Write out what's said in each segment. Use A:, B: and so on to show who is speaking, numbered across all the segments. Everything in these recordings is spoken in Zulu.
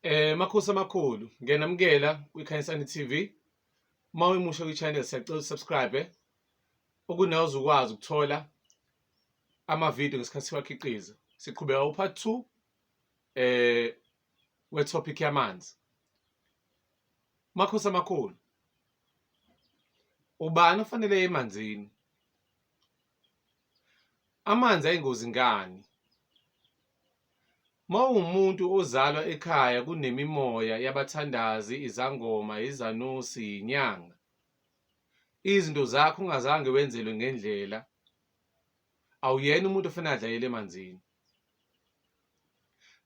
A: Eh makhosi amakhulu ngiyanamukela kwiKhanyisani TV. Uma uyimusha kwi-channel siyacela usubscribe ukunawo uzukwazi ukuthola ama-video ngesikhathi siwakhiqiza. Siqhubeka upart 2 eh we-topic yamanzi. Makhosi amakhulu. Ubani ofanele emanzini? Amanzi ayingozi ngani? Mawumuntu ozalwa ekhaya kunemimoya yabathandazi, izangoma, izanusi, yinyanga. Izinto zakho ungazange wenzelwe ngendlela. Awuyena umuntu ofuna adlayele emanzini.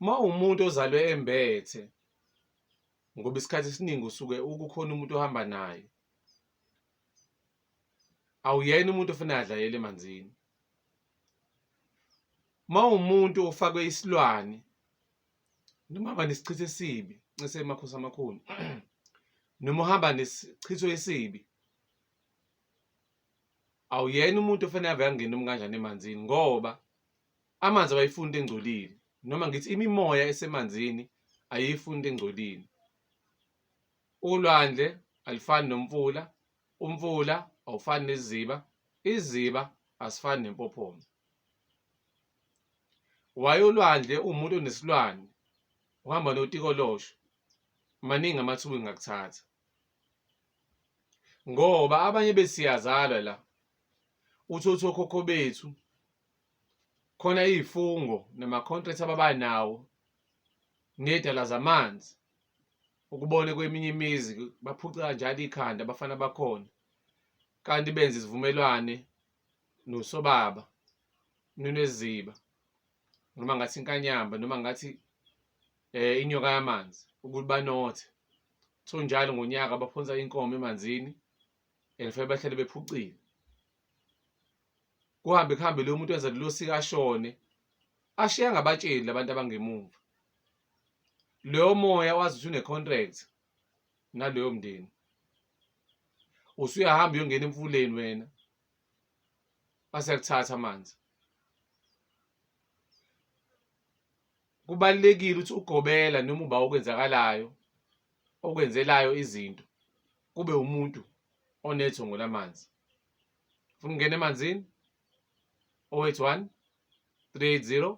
A: Mawumuntu ozalwe embethe ngoba isikhathi esiningi usuke ukukhona umuntu ohamba naye. awuyena umuntu ofuna adlayele emanzini mawumuntu ofakwe isilwane noma aba nesichitho esibi ncese emakhosi amakhulu noma uhamba nesichitho esibi awuyena umuntu ofuna ave angena umkanjani emanzini ngoba amanzi abayifuni into engcolile noma ngithi imimoya esemanzini ayiyifuni into engcolile Ulwandle alifani nomfula, umfula awufani neziba, iziba asifani nempophoma. Waye ulwandle uwumuntu onesilwane uhamba notikolosho maningi amathuba engakuthatha ngoba abanye besiyazalwa la uthotho khokho bethu khona izifungo namacontract ababanawo nedala zamanzi ukubone kweminye imizi baphuceka njalo ikhanda abafana bakhona kanti benze isivumelwane nosobaba noneziba noma ngathi inkanyamba noma ngathi eh inyoka yamanzi ukuthi banothe so njalo ngonyaka baphonsa inkomo emanzini and fanele bahlale bephucile kuhambe kuhambe lo muntu wenza lelo sika ashone ashiya ngabatsheli labantu abangemumva loyo moya wazi ukuthi une-contract naloyo mndeni usuyahamba uyongena emfuleni wena baseyakuthatha amanzi kubalulekile ukuthi ugobela noma uba okwenzakalayo okwenzelayo izinto kube umuntu onethongo lamanzi funa ungena emanzini 081 380